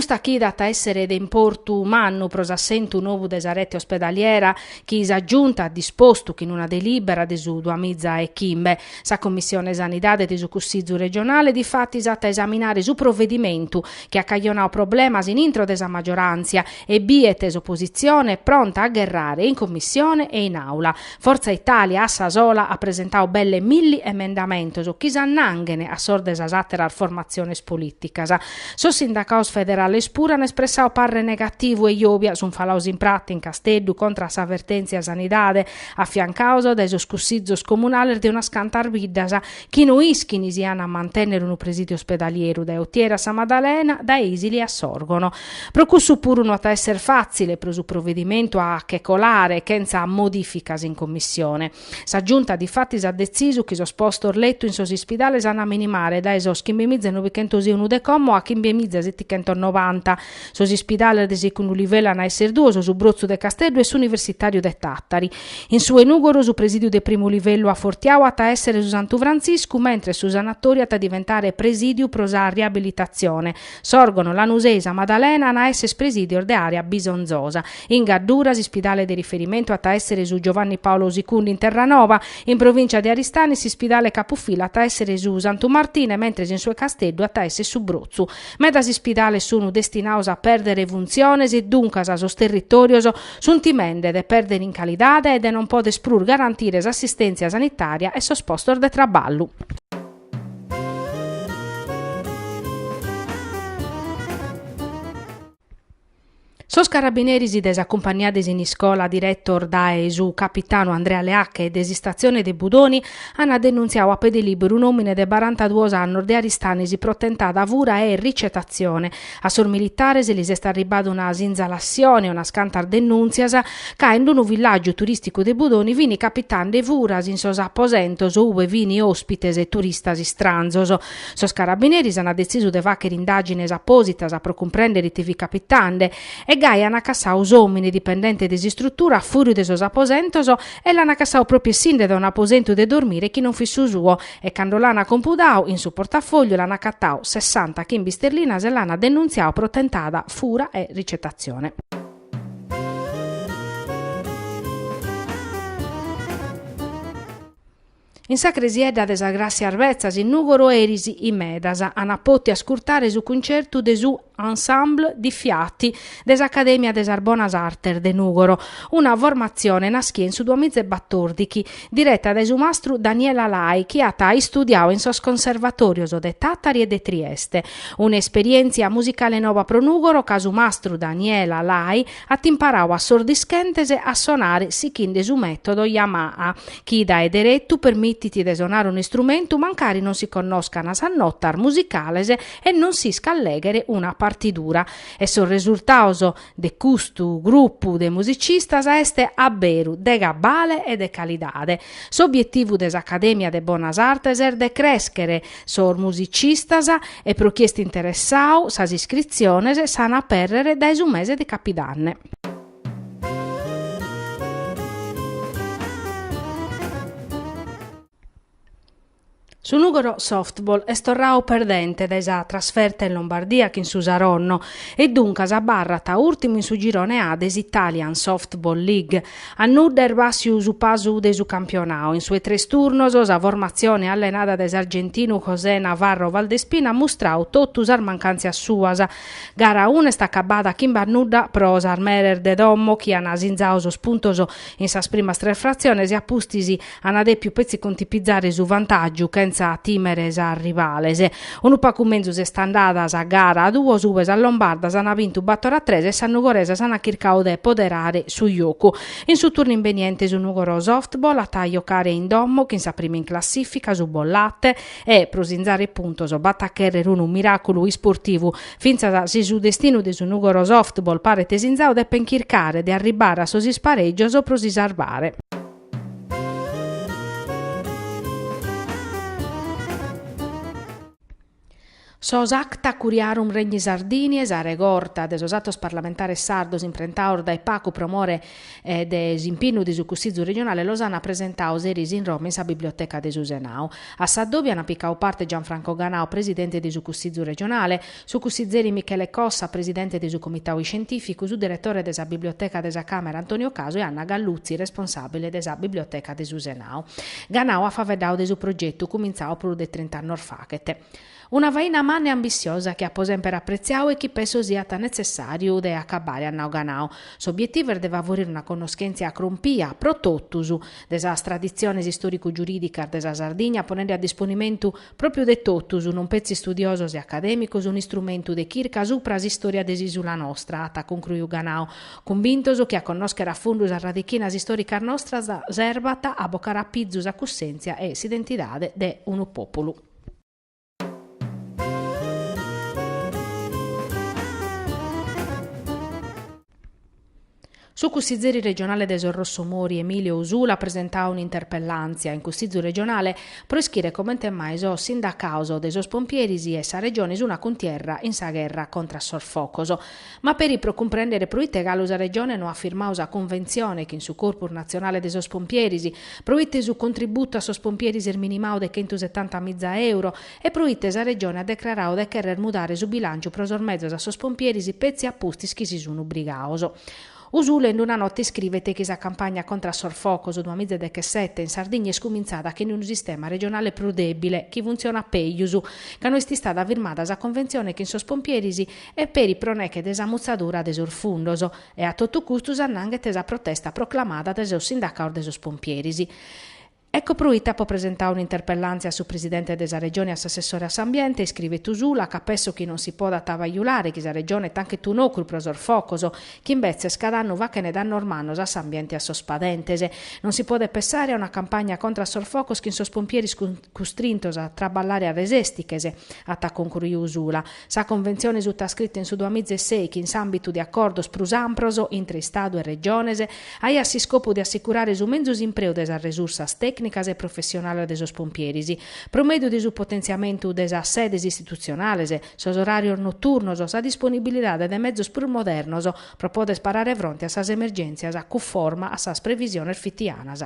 Custa chida at a èssere de importu mannu pro s'assentu nou de sa rete ospedaliera chi sa Giunta at dispostu chin una delìbera de su duamiza e chimbe. Sa Commissione Sanidade de su Cussizu regionale difatis at a esaminare su provedimentu chi at cajonadu problemas in intro de sa magioràntzia e biet s'opositzione pronta a gherrare in Commissione e in Àula. Fortza Italia a sa sola at presentadu belle milli emendamentos chi s'annanghene a sos de sas àteras formatziones polìticas. Sos sindacados federales puru an espressadu parre negativu e Jòbia sunt falados in pratza in Casteddu contra a sa vertèntzia sanidade, afiancados dae sos cussizos comunales de unas cantas biddas Chi no ischini si an a mantènnere unu presìdiu ospedalieru dae Otieri a Sa Maddalena, dae Isili a Sòrgono. Pro cussu puru no at a èssere fàtzile pro su provedimentu a che colare, chentza modìficas in Commissione. Sa Giunta difatis at detzisu chi sos postos letu in sos ispidales an a minimare dae sos chimbe mìzia e nobichentos e unu de como a chimbe mìzia setichentos novanta, Sos ispidales de segundu livellu an a esser duos, su Brotzu de Casteddu e s'Universitàriu de Tàtari. In su 'e Nùgoro su presìdiu de primu livellu afortiadu at a èssere su Santu Frantziscu, mentres su Sanatóriu at a diventare presìdiu pro sa riabilitatzione. Sòrgono, Lanusei, Sa Madalena an a èssere presìdios de àrea bisonzosa. In Gaddura s'ispidale de riferimentu at a èssere su Giovanni Paolo Sicundi in Terranova. In provìncia de Aristanis s'ispidale capufila at a èssere su Santu Martine, mentres in su 'e Casteddu at a èssere su Brotzu. Medas ispidales sunu destinados a pèrdere funtziones e duncas sos territòrios sunt timende de pèrdere in calidade e de non poder prus garantire s'assistèntzia sanitària e sos postos de traballu. Sos carabineris de sa cumpania de Siniscola, diretos dae su capitanu Andrea Leacche e de s'istatzione de Budoni, ant denuntziadu a pede lìberu un'òmine de barantaduos annos de Aristanis pro tentada fura e ricetatzione. A sos militares lis est arribada una sinzalassione e unas cantas denùntzias ca in unu villàgiu turìsticu de Budoni fin capitande furas in sos aposentos ue fin òspites e turistas istranzos. Sos carabineris ant detzisu de fàghere indàgines apòsitas pro cumprèndere ite fit capitande e gai ant cassadu s'òmine dipendente de s'istrutura a fùriu de sos aposentos e l'ant cassadu pròpiu essinde dae un'aposentu de dormire chi non fit su suo e cando l'ant compudadu in su portafògliu l'ant acatadu sessanta chimbe sterlinas e l'ant denuntziadu pro tentada fura e ricetatzione. In sa cresiedda de sas Gràssias Betzas in Nùgoro eris in medas ant poti ascurtare su cuncertu de su Ensemble di Fiati de s'Acadèmia de sas Bonas Artes de Nùgoro, una formatzione naschia in su duamizaebatòrdighi, direta dae su mastru Daniela Lai chi at istudiadu in sos conservatòrios de Tàtari e de Trieste. Un'esperièntzia musicale nova pro Nùgoro ca su mastru Daniela Lai at imparau a sos dischentes a sonare sichende su metodo Yamaha, chi dae deretu permitit de sonare un'istrumentu mancari non si connoscana sas notas musicales e non s'iscat lèghere una partidura. E sos resultaos de custu grupu de musicistas est a beru de cabale e de calidade. S'obietivu de s'Acadèmia de Bonas Artes est de crèschere Sos musicistas e pro chie est interessau sas iscritziones s'an a pèrrere dae su mese de capidanne. Su Nùgoro Softball est torrau perdente dae sa trasferta in Lombardia chin su Saronno e duncas abarrat ùrtimu in su girone A de s'Italian Softball League. A nudda est bàssiu su pasu de su campionau. In su 'e tres turnos, sa formatzione allenada dae s'argentinu José Navarro Valdespina at mustrau totu sas mancàntzias suas. Gara una est acabada chimbe a nudda pro sas meres de domo chi an asinzau sos puntos in sas primas tres fratziones e a pustis Ana depiu petzi contipizare su vantàgiu chentza tìmere sas rivales. Unu pacu menzus est andada sa gara duos ue sas lombardas ana bintu bator a tres e sas nugoresas ana chircau de poderare su jocu. In su turnu imbeniente su Nugoro Softball at a jocare in domo chin sa prima in classifica, su Bollate, e, pro sinzare puntos, b'at a cherrer unu miraculu isportivu. Fintzas si su destinu de su Nugoro Softball paret sinzau depen chircare de arribbare a sos ispareggios pro si sarvare. Sos acta curiarum regni Sardiniae, sa regorta de sos atos parlamentares sardos imprentaos dae pacu pro more de s'impinnu de su Cussizu Regionale los an presentaos eris in Roma in sa Biblioteca de su Senau. A s'addòbiu an picau parte Gianfranco Ganau, presidente de su Cussizu Regionale, Su cussizeri Michele Cossa, presidente de su Comitau Iscientìficu, su diretore de sa Biblioteca de sa Càmera Antonio Casu e Anna Galluzzi, responsàbile de sa Biblioteca de su Senau. Ganau at faveddau de su progetu, cumintzau prus de trint'annos faghet. Una faina manna e ambissiosa chi apo semper apretziau e chi penso siat netzessàriu de acabare, at nau Ganau. S'obietivu est de favorire una connoschèntzia crompia, pro totus, de sas traditziones istòricu-giurìdicas de sa Sardigna ponende a disponimentu, Pròpiu de totus, non petzi studiosos e acadèmicos, un'istrumentu de chirca supra s'istòria de s'ìsula nostra, at concruiu Ganau, cumbintos chi a connòschere a fundu sas radichinas istòricas nostras servat a bocare a pizu sa cussèntzia e s'identidade de unu pòpulu. Su cussizeri regionale de sos Rossomori Emilio Usula at presentadu un'interpellàntzia in Cussizu regionale pro ischire comente mai sos sindacados de sos pompieris e sa Regione sun a cuntierra in sa gherra contra a sos focos. Ma peri pro cumprèndere pro ite galu sa Regione no at firmadu sa cunventzione chin su Corpus natzionale de sos pompieris, pro ite su contributu a sos pompieris est minimadu de chentu setanta miza euro, e pro ite sa Regione at decraradu de cherrer mudare su bilànciu pro sos mezos a sos pompieris petzi a pustis chi si sun ubrigados. Usula in una nota iscrivet chi sa campagna contra a sos focos duas miza e dechesete in Sardigna est cumintzada chin unu sistema regionale prus dèbile chi funtzionat peus ca no est istada firmada sa conventzione chin sos pompieris e peri pro neche de sa mutzadura de sos fundos e a totu custu s'annanghet sa protesta proclamada de sos sindacados de sos pompieris Ecco proite apo presentau un'interpellàntzia a su Presidente de sa Regione e a s'Assessore a s'Ambiente, iscrivet Usula, ca penso chi non si podat bajulare chi sa Regione tanchet un'ocru pro sos focos, chi imbetzes cada annu fachene dannos mannos a s'ambiente e a sos padentes. Non si podet pensare a una campagna contra a sos focos chin sos pompieris custrintos a traballare a resestiches, at concruiu Usula. Sa Conventzione sutaiscrita in su duamizeses chi in s'àmbitu de acordos prus ampros intre Istadu e Regiones aiat s'iscopu de assicurare su menzus impreu de sas resursas tècnicas e professionales de sos pompieris pro mèdiu de su potentziamentu de sas sedes istitutzionales, sos oràrios noturnos, sa disponibilidade de mezos prus modernos pro poder parare fronte a sas emergèntzias cunforma a sas previsiones fitianas.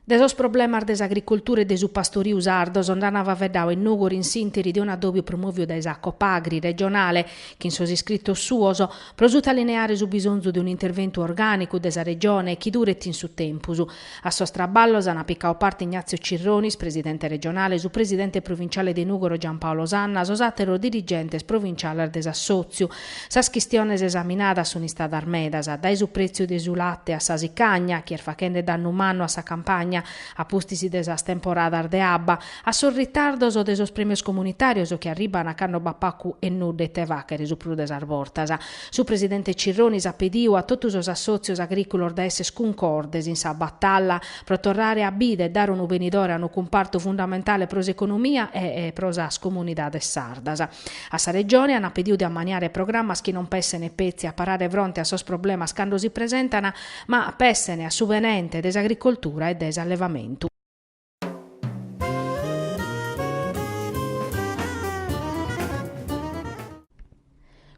De sos problemas de s'agricultura e de su pastoriu sardos nd'an faveddadu in Nùgoro in s'interi de un'adòbiu promòviu dae sa Copagri regionale chi in sos iscritos suos pro sutalineare su bisonzu de un'interventu orgànicu de sa Regione chi duret in su tempus A sos traballos an picadu parte Ignazio Cirronis, presidente regionale, su presidente provinciale de Nùgoro Giampaolo Sanna, sos àteros dirigentes provinciales de s'assòtziu. Sas chistiones esaminadas sunt istadas medas, dae su prètziu de su late a sa sicagna, chi est fachende dannu mannu a sa campagna, a pustis de sas temporadas de abba, a sos ritardos de sos prèmios comunitàrios chi arribant cando b'at pacu e nudda ite fàchere su prus de sas bortas. Su presidente Cirronis at pediu a totu sos assòtzios agrìculos de èssere cuncordes in sa batalla pro torrare a bida e dare unu benidore a unu cumpartu fundamentale pro s'economia e pro sas comunidades sardas. A sa Regione an pediu de ammaniare programmas chi non pessene petzi a parare fronte a sos problemas cando si presentana ma pessene a su benente de s'agricoltura e de s'allevamentu.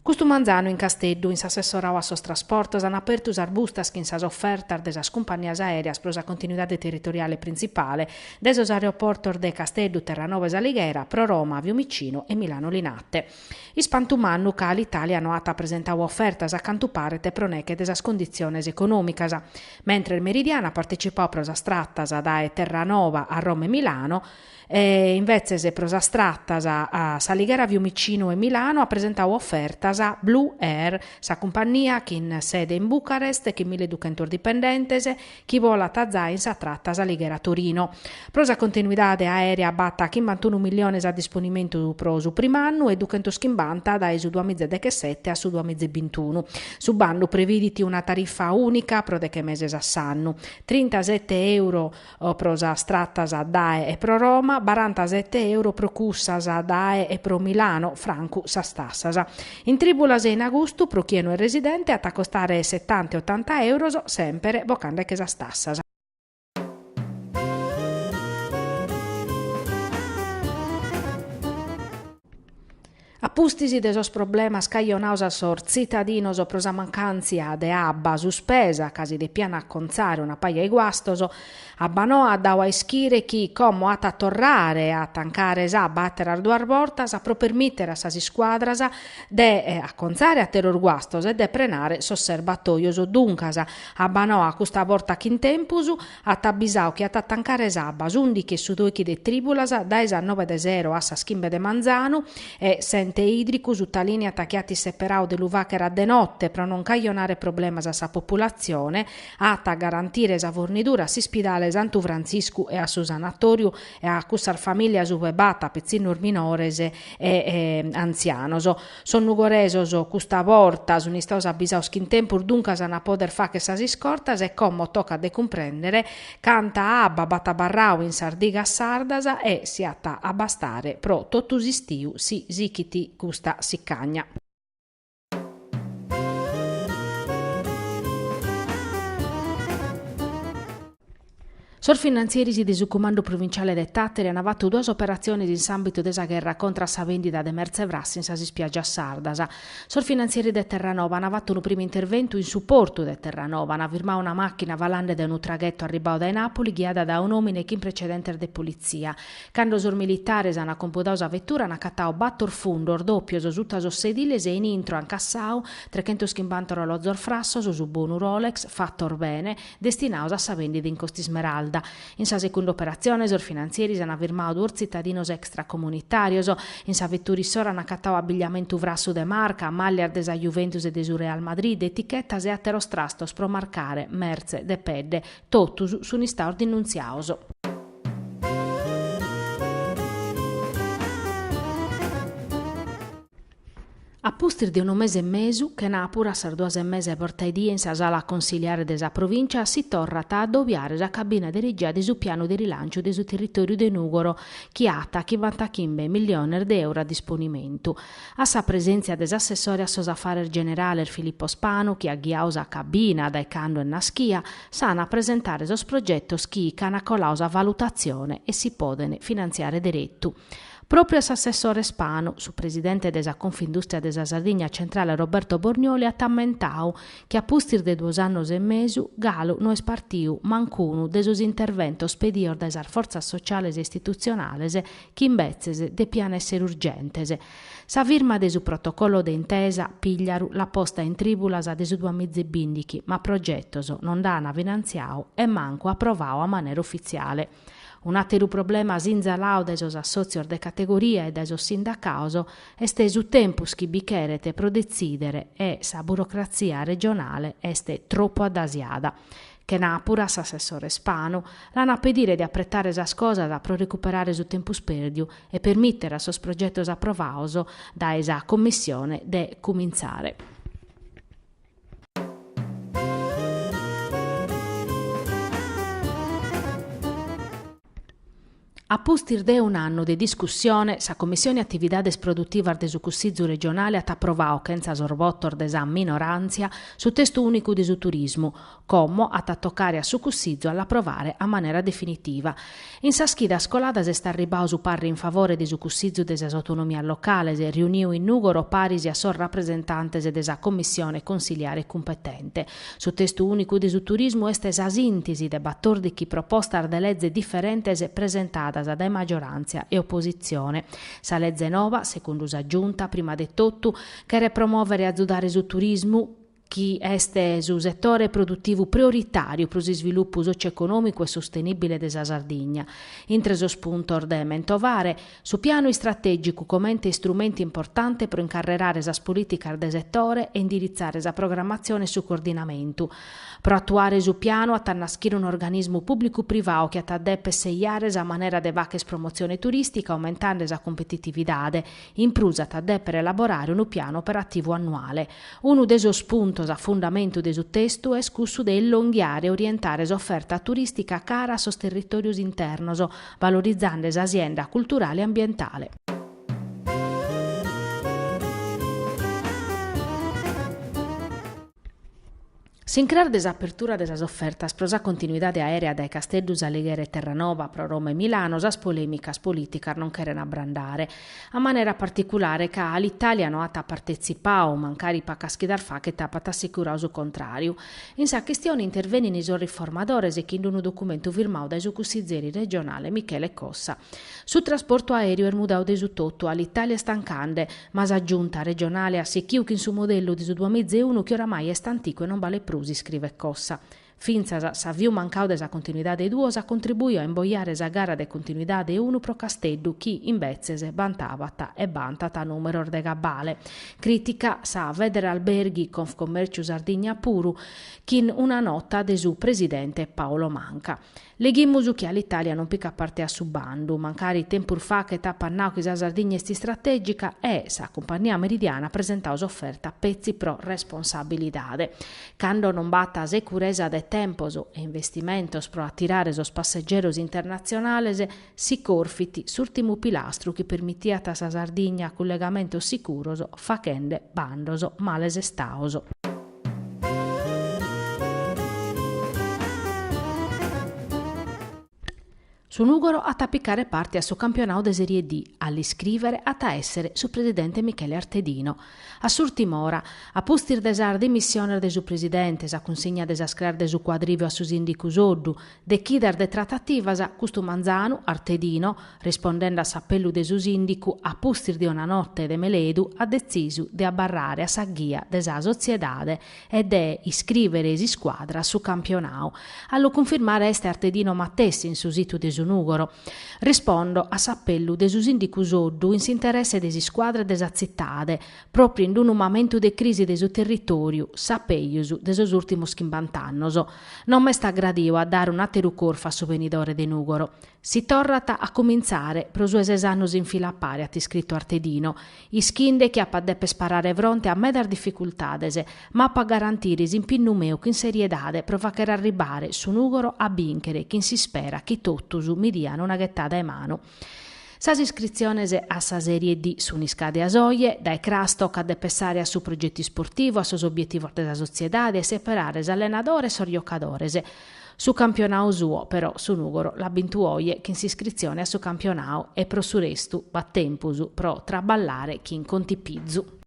Custu manzanu in Casteddu, in s'assessorau a sos trasportos, an apertu sas bustas chin sas ofertas de sas cumpannias aereas pro sa continuidade territoriale printzipale dae sos aeroportos de Casteddu, Terranova e S'Alighera, pro Roma, Fiumicinu e Milano Linate. Ispantu mannu ca Alitalia no at presentau ofertas a cantu paret pro nech'e de sas conditziones econòmicas. Mentres Meridiana at partecipau pro sas tratas dae Terranova a Roma e Milano, e invetzes pro sas tratas S'Alighera Fiumicinu e Milano at presentau ofertas Blue Air, sa cumpannia chin sede in Bucarest e chin milleduchentos dipendentes, chi bolat azai in sa tratta S'Alighera Torino. Pro sa continuidade aèrea b'at chimbantunu milliones a disponimentu pro su prim'annu e duchentos chimbanta dae su duamiza e dechesete a su duamiza e bintunu. Su bandu previdit una tarifa ùnica pro deche meses a s'annu, trintasete euro pro sas tratas dae e pro Roma, barantasete euro pro cussas dae e pro Milano, francu sas tassas. In trìbulas e in agustu pro chie no est residente at a costare setanta e otanta euros, semper bocande che sas tassas. A pustis de sos problemas cajonaos a sos tzitadinos pro sa mancàntzia de abba suspesa ca si depian acontzare una paja 'e guastos, Abbanoa at dau a ischire chi, como at a torrare a tancare s'abba àteras duas bortas pro permìtere a sas iscuadras de acontzare àteros guastos e de prenare sos serbatoios, duncas, Abbanoa custa borta chin tempus at abbisau chi at a tancare s'abba s'ùndichi e su dòichi de trìbulas dae sas nobe de sero a sas chimbe de manzanu e s'ente ìdricu sutalìniat chi at isseperau de lu fàchere a de note pro non cajonare problemas a sa populatzione at a garantire sa fornidura a s'ispidale Santu Frantziscu e a su sanatòriu e a cussas famìlias ue b'at pitzinnos minores e antzianos. Sos nugoresos custa borta sunt istaos abisaos chin tempus duncas an a pòder fàchere sas iscortas e como tocat de cumprèndere canta abba b'at abarrau in sas digas sardas e si at a bastare pro totu s'istiu si sichit custa sicagna. Sos finantzieris de su Cumandu Provinciale de Tàteri ant fatu duas operatzionis in s'àmbitu de sa gherra contra a sa vèndida de mertze frassa in sas ispiàgias sardas. Sos finantzieris de Terranova ant fatu unu primu interventu in su portu de Terranova, ant firmadu una màchina falende de unu traghetu arribadu dae Nàpuli ghiada dae un'òmine chin precedentes de politzia, Cando sos militares an compudadu sa vetura an acatadu bator fundos dòpios suta sos sediles e in intro an cassadu trechentos chimbanta orolozos frassos su bonu Rolex fatos bene destinados a sa bèndida in Costa Ismeralda. In sa secunda operatzione sos finantzieris an firmadu duos tzitadinos extracomunitàrios. In sa vetura issoro an acatadu abigliamentu frassu de marca, màllias de sa Juventus e de su Real Madrid, etichetas e àteros trastos pro marcare mertze de pedde. Totus sun istados dinnuntziados. A pustis de unu mese e mesu, chenàpura a sas duas e mesa 'e borta 'e die in sa sala consiliare de sa Provìncia, si torrat a adobiare sa cabina de regia de su pianu de rilànciu de su territòriu de Nùgoro, chi at chimbantachimbe milliones de euro a disponimentu. A sa presèntzia de s'assessore a sos afares generales Filippo Spanu, chi at ghiadu sa cabina dae cando est naschia, S'an a presentare sos progetos chi ch'an coladu sa valutatzione e si podent finantziare deretu. Pròpiu a s'assessore Spanu, su presidente de sa Confindùstria de sa Sardigna Centrale Roberto Bornioli at ammentadu chi a pustis de duos annos e mesu galu no est partiu mancunu de sos interventos pedidos dae sas fortzas sociales e istitutzionales chi imbetzes depian èssere urgentes Sa firma de su protocollo de intesa, Pigliaru, l'at posta in trìbulas de su duamiza e bìndichi, ma progetos non nd'an finantziadu e mancu aprovadu a manera ufitziale. Un'àteru problema sinzaladu dae sos assòtzios de categoria e dae sos sindacados est su tempus chi bi cheret pro detzìdere e sa burocratzia regionale est tropu addasiada. Chenàpura a s'assessore Spanu l'an a pedire de apretare sas cosas pro recuperare su tempus pèrdiu e permìtere a sos progetos aprovados dae sa Commissione de cumintzare. A pustis de un'annu de discussione, sa Commissione Atividades Produtivas de su Cussìgiu regionale at aprovadu chentza sos votos de sa minoràntzia su testu ùnicu de su turismu, como at a tocare a su Cussìgiu a l'aprovare a manera definitiva. In sas chidas coladas est arribadu su parre in favore de su Cussìgiu de sas Autonomias Locales, riuniu in Nùgoro paris a sos rapresentantes de sa Commissione Consiliare cumpetente. Su testu ùnicu de su turismu est sa sìntisi de batòrdichi propostas de leze diferentes presentadas dae maggioràntzia e opositzione. Sa leze nova, segundu sa Giunta, prima de totu, cheret promòvere e azudare su turismu, chi est su setore produtivu prioritàriu pro s'isvilupu sòcio-econòmicu e sostenìbile de sa Sardigna. Intre sos puntos de mentovare. Su pianu istratègicu comente istrumentu importante pro incarrerare sas polìticas de setore e indiritzare sa programmatzione e su coordinamentu. Pro atuare su pianu at a naschire un'organismu pùblicu-privau chi at a dèpere seiare sa manera de fàchere promotzione turìstica aumentande sa cumpetitividade. In prus at a dèpere elaborare unu pianu operativu annuale. Unu de sos puntos a fundamentu de su testu est cussu de ellonghiare e orientare s'oferta turìstica cara a sos territòrios internos, Valorizande sa sienda culturale e ambientale. S'incras de s'apertura de sas ofertas pro sa continuidade aèrea dae Casteddu, S'Alighera e Terranova pro Roma e Milano sas polèmicas polìticas non cherent abrandare, a manera particulare ca Alitalia no at partetzipau, mancari pacas chidas fachet apat assicurau su contràriu. In sa chistione intervenin sos riformadores chin unu documentu firmau dae su cussizeri regionale Michele Cossa. Su trasportu aereu est mudau de su totu, Alitalia est tancande, ma sa Giunta regionale at sichiu chin su modellu de su duamiza e unu chi oramai est anticu e non balet prus, iscrivet Cossa. Fintzas s'aviu mancau de sa continuidade duos at contribuiu a imboiare sa gara de continuidade unu pro Casteddu chi, imbetzes, bantabat e bantat numeros de cabale. Crìtica sa Federalberghi Confcommerciu Sardigna puru, chin una nota de su presidente Paolo Manca. Leghimus chi Alitalia non picat parte a su bandu, mancari tempus fachet apat nau chi sa Sardigna est istratègica e sa cumpagnia Meridiana at presentau s'oferta petzi pro responsabilidade. Cando non b'at securesa de tempos e investimentos pro atirare sos passegeros internatzionales, Si corfit s'ùrtimu pilastru chi permitiat a sa Sardigna cullegamentos sicuros fachende bandos males estaos. Su Nùgoro at a picare parte a su campionadu de Serie D, a l'iscrìvere at a èssere su presidente Michele Artedino. A s'ùrtim'ora, a pustis de sas dimissiones de su presidente, sa cunsigna de sas craes de su Cuadrìviu a su sìndicu Soddu, De chidas de tratativas, custu manzanu, Artedino, rispondende a s'apellu de su sìndicu a pustis de una notte de meledu at detzisu de abarrare a sa ghia de sa sotziedade e de iscrìvere s'iscuadra a su campionau. A lu cunfirmare est Artedino matessi in su situ de su Nùgoro. Rispondo a s'apellu de su sìndicu Soddu in s'interesse de s'iscuadra e de sa tzitade, pròpriu in unu mamentu de crisi de su territòriu, sa pejus, de sos ùrtimos chimbant'annos, non m'est agradau a dare un'àteru corfu a su benidore de Nùgoro. Si torrat a cumintzare, pro su 'e ses annos in fila a pare, at iscritu Artedino, ischinde chi apo a dèpere parare fronte a medas dificultades, ma apo a garantire s'impinnu meu chin seriedade pro fàghere arribare su Nùgoro a bìnchere chin s'ispera chi totus mi dian una ghetada 'e manu. Sas iscritziones a sa Serie D sun iscàdias oje, dae cras tocat de pessare a su progetu isportivu, a sos obietivos de sa sotziedade e seperare s'allenadore e sos giocadores. Su campionau suo, però, su Nùgoro l'at bintu oje chin s'iscritzione a su campionau e pro su restu b'at tempus pro traballare chin contipizu.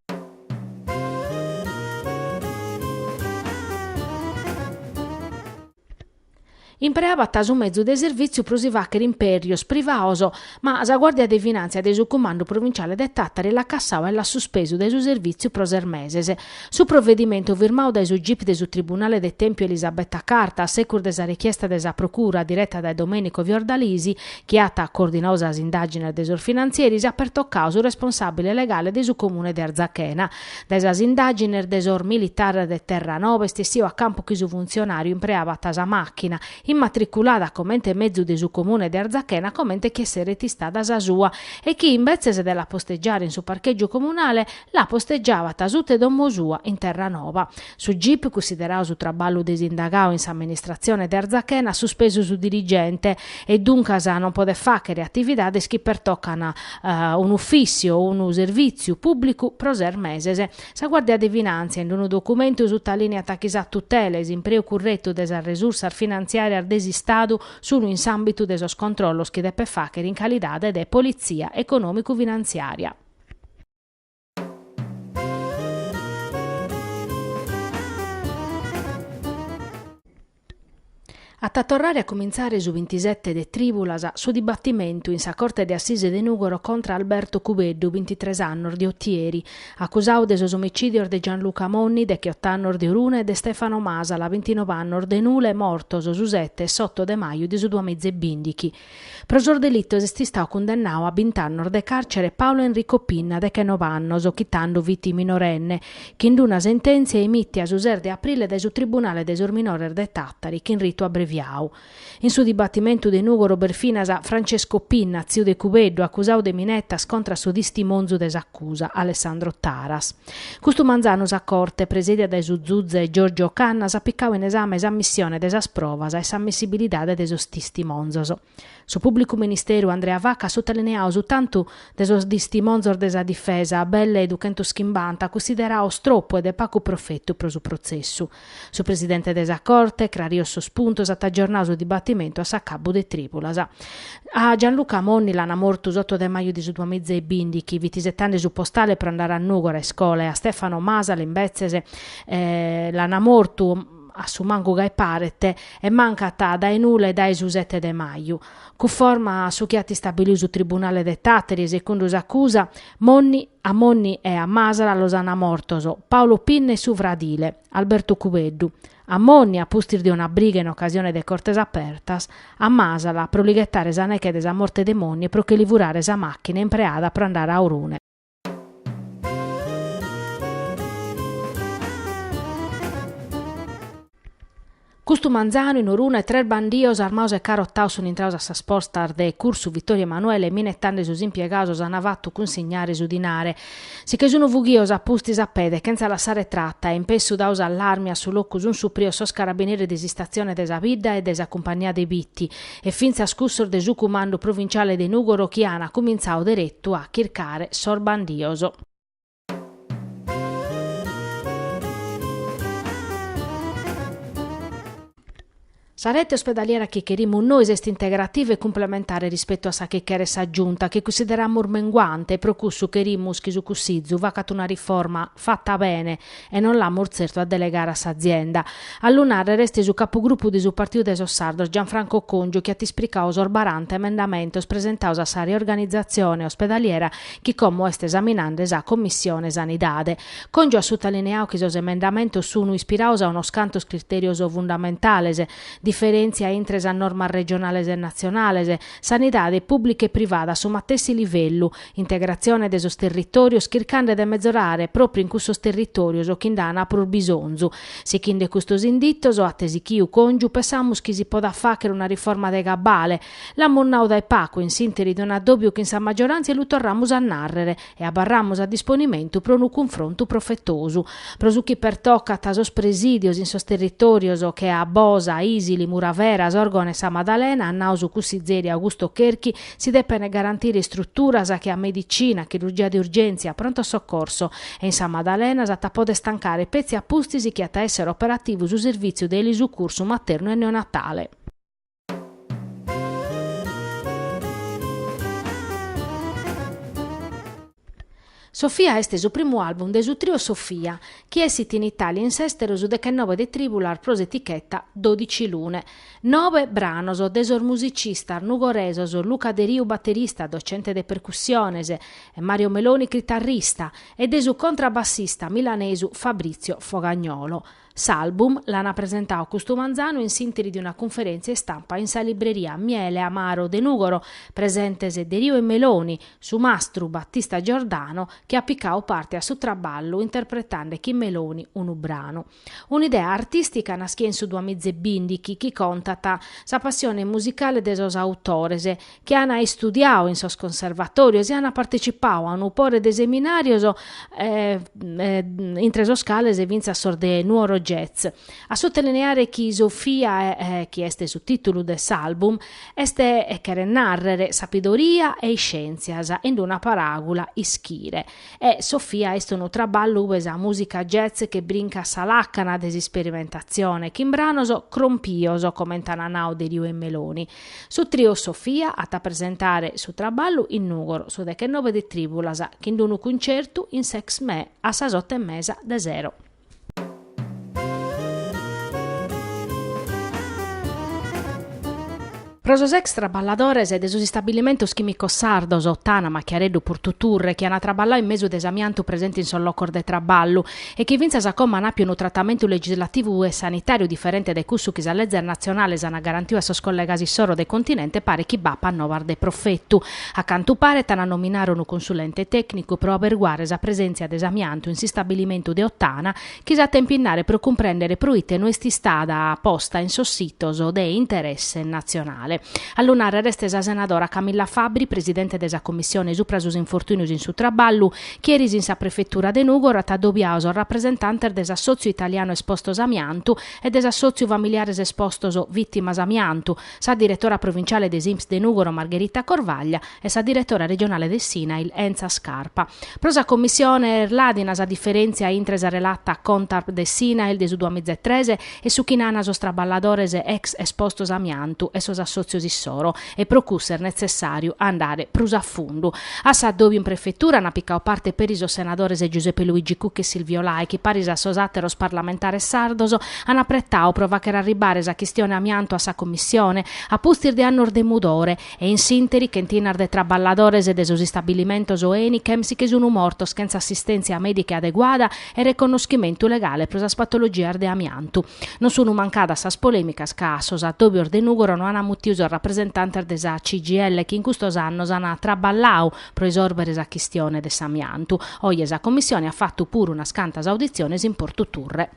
Impreabat su mezu de servìtziu pro si fàghere impèrrios privaos, ma sa Guàrdia de Finàntzia de su Cumandu Provinciale de Tàtari l'at cassau e l'at suspesu dae su servìtziu pro ses meses. Su provedimentu firmau dae su gip de su Tribunale de Tèmpiu Elisabetta Carta a segus de sa rechiesta de sa Procura direta dae Domenico Fiordalisi, chi at coordinau sas indàgines de sos finantzieris, at pertocau su responsàbile legale de su Comune de Arzachena, Dae sas indàgines de sos militares de Terranova est essiu a campu chi su funtzionàriu impreabat sa màchina, immatriculada comente mezu de su comune de Arzachena comente chi esseret istada sa sua, e chi invetzes de la postegiare in su parchègiu comunale, la postegiabat suta 'e domo sua in Terranova. Su gip, cunsiderau su traballu de s'indagau in s'amministratzione de Arzachena, at suspesu su dirigente e duncas non podet fàghere atividades chi pertocan un'ufìssiu o unu servìtziu pùblicu pro ses meses. Sa Guàrdia de Finàntzia, in unu documentu, sutalìniat chi sa tutela e s'impreu curretu de sas resursas finantziàrias de s'Istadu sunt in s'àmbitu de sos controllos chi depet fàghere in calidade de politzia econòmicu-finantziària. At a torrare a cumintzare su bintisete de trìbulas su dibatimentu in sa Corte de Assise de Nùgoro contra Alberto Cubeddu, bintitres annos, de Otieri, acusadu de sos omicìdios de Gianluca Monni, decheot'annos, de Orune e de Stefano Masala, bintinov'annos, de Nule, mortos su sete e s'oto de maju de su duamiza e bìndighi. Pro sos delitos est istau cundennau a bint'annos de càrcere Paolo Enrico Pinna dechenobe annos, chi tando fit minorenne, chin-d una sentèntzia emìtia su ses de aprile dae su Tribunale de sos Minores de Tàtari chin ritu abreviau. In su dibatimentu de Nùgoro b'est finas Francesco Pinna, tziu de Cubeddu, acusau de minetas contra a su tistimonzu de s'acusa, Alessandro Taras. Custu manzanu sa Corte, presedia dae su zuze Giorgio Cannas, at picadu in esame s'ammissione de sas provas e s'ammissibilidade de sos tistimonzos. Su pùblicu ministeru Andrea Vacca at sutalineadu su tantu de sos tistimonzos de sa difesa, belle duchentus chimbanta, cussiderados tropu e de pagu profetu pro su protzessu. Su presidente de sa Corte, crarios sos puntos, at agiornadu su dibatimentu a s'acabbu de trìbulas. A Gianluca Monni l'ana mortu s'oto de maju de su duamìa e bìndichi fit isetende su postale pro andare a Nùgora a iscola e a Stefano Masala imbetzes l'ana mortu a su mancu gai paret e mancat dae nule dae su sete de maju. Cunforma a su chi at istabilidu su tribunale de Tàteri e secundu s'acusa Monni A Monni e a Masala los ana mortos Paolo Pinna e su fradile, Alberto Cubeddu. A Monni, a pustis de una briga in ocasione de Cortes Apertas, a Masala pro li ghetare sa neche de sa morte de Monni e pro che li furare sa machina impreada pro andare a Orune. Custu manzanu in Orune tres bandios armados e carotados sun intrados a sas postas de Cursu Vittorio Emanuele e minetende sos impiegados s'an fatu cunsignare su dinare. Si che sun fughidos a pustis a pede chentza lassare trata e in pessu dadu s'allarmi a su locu sun supridos sos carabineris de s'istazione de sa bidda e de sa cumpagnia de Bitti e fintzas cussos de su cumandu provintziale de Nugoro chi an cumintzadu deretu a chircare sos bandios. Sa rete ospedaliera chi cherimus nois est integrativa e cumplementare rispetu a sa chi cheret sa Giunta, chi cussideramus menguante e pro cussu cherimus chi su Cussizu facat una riforma fata bene e non l'amus tzertu a delegare a s'azienda. A lu nàrrere est su capugrupu de su Partiu de sos Sardos Gianfranco Congiu chi at ispricadu sos baranta emendamentos presentados a sa riorganizatzione ospedaliera chi como est esaminende sa Commissione Sanidade. Congiu at sutalineadu chi sos emendamentos sunu ispirados a unos cantos critèrios fundamentales, diferèntzia intre sas normas regionales e natzionales, sanidade pùblica e privada a su matessi livellu, integratzione de sos territòrios chircande de mezorare pròpriu in cussos territòrios chi nd'ana prus bisonzu. Sighinde custos inditos, at sichiu Congiu, pensamus chi si podat fàghere una riforma de cabale, L'amus nau dae pagu in s'interi de un'addòbiu chin sa maggioràntzia lu torramus a nàrrere e abarramus a disponimentu pro unu cunfrontu profetosu. Pro su chi pertocat sos presìdios in sos territòrios che a Bosa, Isili, Muravera, Sòrgono e Sa Madalena, at nau su cussizeri Augusto Cherchi, si depent garantire istruturas che a medicina, chirurgia de urgèntzia, pronto soccorso e in Sa Madalena s'at a pòdere tancare petzi a pustis chi at a èssere operativu su servìtziu de elisucursu maternu e neonatale. Sofia est su primu album de su trio Sofia, chi essit in Italia e in s'esteru su dechennobe de tribulas pro s'eticheta Dodici Lune. Nobe branos de sos musicistas nugoresos Luca Deriu baterista, docente de percussiones, e Mario Meloni chitarrista, e de su contrabassista milanesu Fabrizio Fogagnolo. S'album l'ana presentau custu manzanu in s'interi de una cunferèntzia istampa in sa libreria Miele Amaro de Nùgoro, presentes Deriu e Meloni, su mastru Battista Giordano chi at picau parte a su traballu interpretande chin Meloni unu branu. Un'idea artìstica naschia in su duamizebìndichi chi contat sa passione musicale de sos autores, chi ana istudiau in sos conservatorios e ana partecipau a unu pore de seminarios intre sos cales fintzas sos de Nuoro Jazz. A sotolineare chi Sofia chi est su titulu de s'album est cheret narrere sapidoria e iscientzias in una paragula ischire e Sofia est unu traballu ube sa musica jazz che brincat sa lacana de s'isperimentazione chin branos crompios coment'ana nau Deriu e Meloni Su trio Sofia at a presentare su traballu in Nùgoro su dechennobe de trìbulas chin unu cuncertu in s'ExMè a sas oto e mesa de sero. Pro sos ex traballadores de sos istabilimentos chìmicos sardos, Ottana, Machiareddu, Purtuturre, chi ana traballau in mesu de s'amiantu presente in sos locos de traballu, e chi fintzas a como an àpiu unu tratamentu legislativu e sanitàriu diferente dae cussu chi sas lezes natzionales an garantiu a sos collegas issoro de continente paret chi b'apat novas de profetu. A cantu paret an a nominare unu consulente tècnicu pro aberguare sa presèntzia de s'amiantu in s'istabbilimentu de Ottana chi s'at a impinnare pro cumprèndere pro ite no est istada posta in sos sitos de interesse natzionale. A lu nàrrere est sa senadora Camilla Fabbri, presidente de sa Commissione supra sos infortùnios in su traballu, chi eris in sa prefetura de Nùgoro at adobiau sos rapresentantes de s'Assòtziu Italianu Espostos Amiantu e de s'Assòtziu Familiares Espostos Vìtimas Amiantu, sa diretora provinciale de s'Inps de Nùgoro Margherita Corvaglia e sa diretora regionale de s'INAIL Enza Scarpa. Pro sa Commissione est ladina sa diferèntzia intre sa relata Contarp de s'INAIL de su duamizaetres e su chi nana sos traballadores ex espostos amiantu e sos assotzios issoro e pro cussu est netzessàriu andare prus a fundu. A s'adòbiu in prefetura ana picau parte peri sos senadores Giuseppe Luigi Cucca e Silvio Lai chi paris a sos àteros parlamentares sardos an apretau pro fàchere arribare sa chistione amiantu a sa Commissione a pustis de annos de mudore e in s'ìnteri chentinas de traballadores de sos istabilimentos Enichem si che sun mortos chentza assistèntzia mèdica adeguada e reconnoschimentu legale pro sas patologias de amiantu. Non sun mancadas sas polèmicas ca a sos addòbios de Nùgoro no ant mutidu sos rapresentantes de sa CGIL chi in custos annos ant traballadu pro isòrbere sa chistione de s'amiantu. Oje sa Commissione at fatu puru unas cantas auditziones in Portu Turre.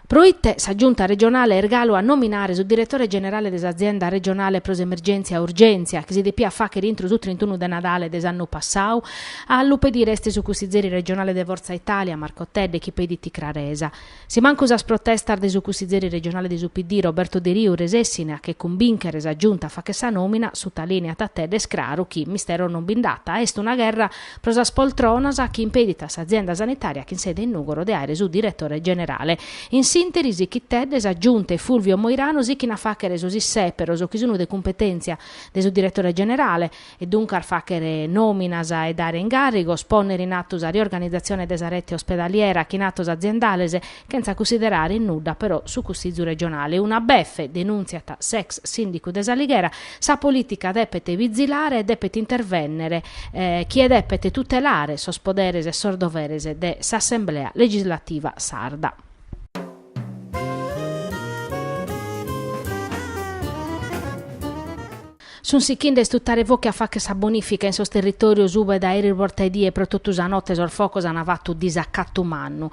Pro ite sa Giunta regionale est galu a nominare su diretore generale de s'Azienda regionale pro s'emergèntzia Urgèntzia, chi si depiat fàghere intro su trintunu de Nadale de s'annu passadu? A lu pedire est su cussizeri regionale de Fortza Italia, Marco Tedde, chi pedit craresa. Si mancu sas protestas de su cussizeri regionale de su PD, Roberto Deriu, resessine a che cumbìnchere sa Giunta a fàghere sa nòmina, sutalìneat Tedde, est craru chi mistero non bi nd'at, est una gherra pro sas poltronas chi impedit a s'azienda sanitària chin sede in Nùgoro de àere su diretore generale. In s'ìnteri sichit Tedde, sa Giunta e Fulvio Moirano sichin a fàghere sos issèperos chi sun de cumpetèntzia de su diretore generale e duncas fàghere nòminas e dare ingàrrigos, pònnere in atu sa riorganizatzione de sa rete ospedaliera chin atos aziendales Chentza cussiderare in nudda però su Cussizu regionale. Una befe, denùntziat s'ex sìndicu de S'Alighera, sa polìtica depet bizilare e depet intervènnere chie depet tutelare sos poderes e sos doveres de s'Assemblea legislativa sarda. Sunt sichende a istutare focu e a fagher sa bonìfica in sos territòrios ue dae eris borta 'e die e pro totu sa note sos focos ant fatu disacatu mannu.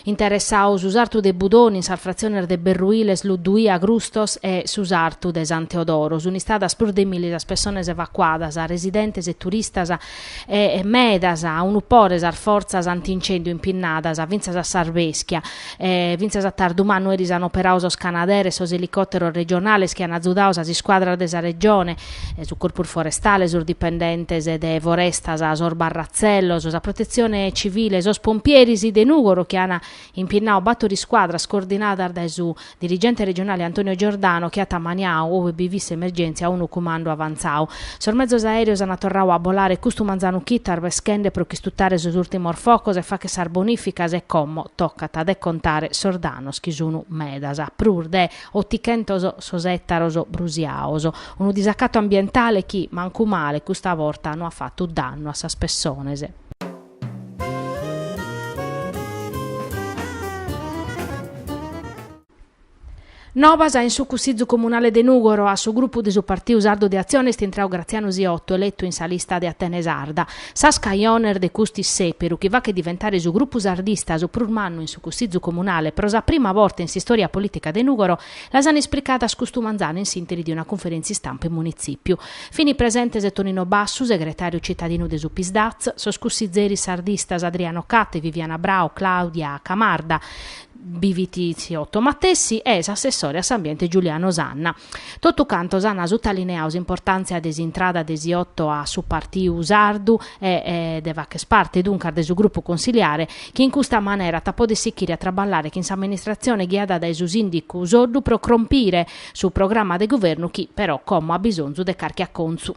Interessadu su sartu de Budoni in sas fratziones de Berruiles, Luddui, Agrustos e su sartu de San Teodoro, sunt istadas prus de milli sas pessones evacuadas, residentes e turistas, e medas, unu pore sas fortzas antincèndiu impinnadas fintzas a s'arbeschia, e fintzas a tardu mannu eris an operau sos canaderes, sos elicòteros regionales chi an azudau sas iscuadras de sa Regione, su Corpus Forestale, sos dipendentes de Forestas, sos barratzellos, sa Protetzione Civile, sos pompieris de Nùgoro chi an impinnadu bator iscuadras coordinadas dae su dirigente regionale Antonio Giordano chi at ammaniadu, ue bi fit s'emergèntzia, unu cumandu avantzadu. Sos mezos aèreos ant torradu a bolare custu manzanu chito arbeschende pro ch'istutare sos ùrtimos focos e fagher sas bonìficas e como tocat de contare sos dannos chi sun medas, prus de otichentos sos ètaros brusiados, unu disacatu ambientale chi, mancu male, custa borta no at fatu dannu a sas pessones. Nobas in su Cussizu Comunale de Nùgoro, a su grupu de su Partiu Sardu de Atzione est intrau Gratzianu Siottu, eletu in sa lista de Atene Sarda. Sas cajones de cust'issèperu, chi faghet diventare su grupu sardista su prus mannu in su Cussizu Comunale pro sa prima borta in s'istòria polìtica de Nùgoro, Las an ispricàs custu manzanu in sìntesi in una cunferèntzia istampa in Munitzipiu. Fini presentes Tonino Bassu, segretariu citadinu de su Psdaz, sos cussizeris sardistas Adriano Catte, Viviana Brau, Claudia Camarda, Siotto matessi e s'assessore a s'ambiente Giuliano Sanna. Totu cantos an sutalineadu s'importàntzia de s'intrada de Siotto a su Partiu Sardu e de fàchere parte duncas de su grupu consiliare chi in custa manera at a poder sichiri a traballare chin s'amministratzione ghiada dae su sìndicu Soddu pro crompire su programma de guvernu chi, però, como b'at bisonzu de carchi acontzu.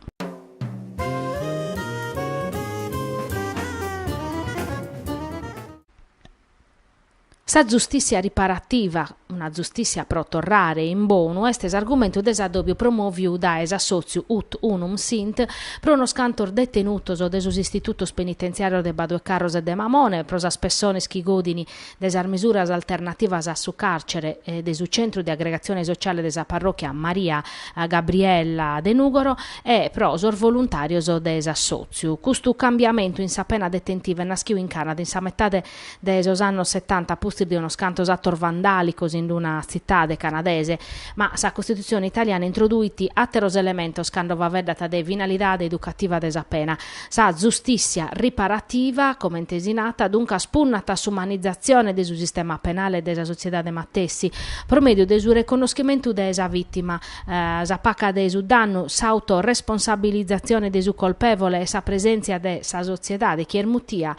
Sa zustìssia riparativa, una zustìssia pro torrare in bonu est s'argumentu de s'adòbiu promòviu dae s'assòtziu Ut Unum Sint pro unos cantos detenutos de sos istitutos penitentziàrios de Baduecarros e de Mamone pro sas pessones chi godin de sas misuras alternativas a su càrcere de su Centru de Agregatzione Sociale de sa Parròchia Maria Gabriella de Nùgoro e pro sos voluntàrios de s'assòtziu. Custu cambiamentu in sa pena detentiva est nàschiu in Canada in sa metade de sos annos setanta a pustis de unos cantos atos vandàlicos in una tzitade canadese. Ma sa Costitutzione italiana introduit àteros elementos cando faveddat de finalidade educativa de sa pena. Sa zustìssia riparativa, comente si nat, duncas punnat a s'umanizatzione de su sistema penale e de sa sotziedade matessi, pro mèdiu de su reconnoschimentu de sa vìtima, sa paca de su dannu, s'autoresponsabilizatzione de su colpèvole e sa presèntzia de sa sotziedade chi est mutia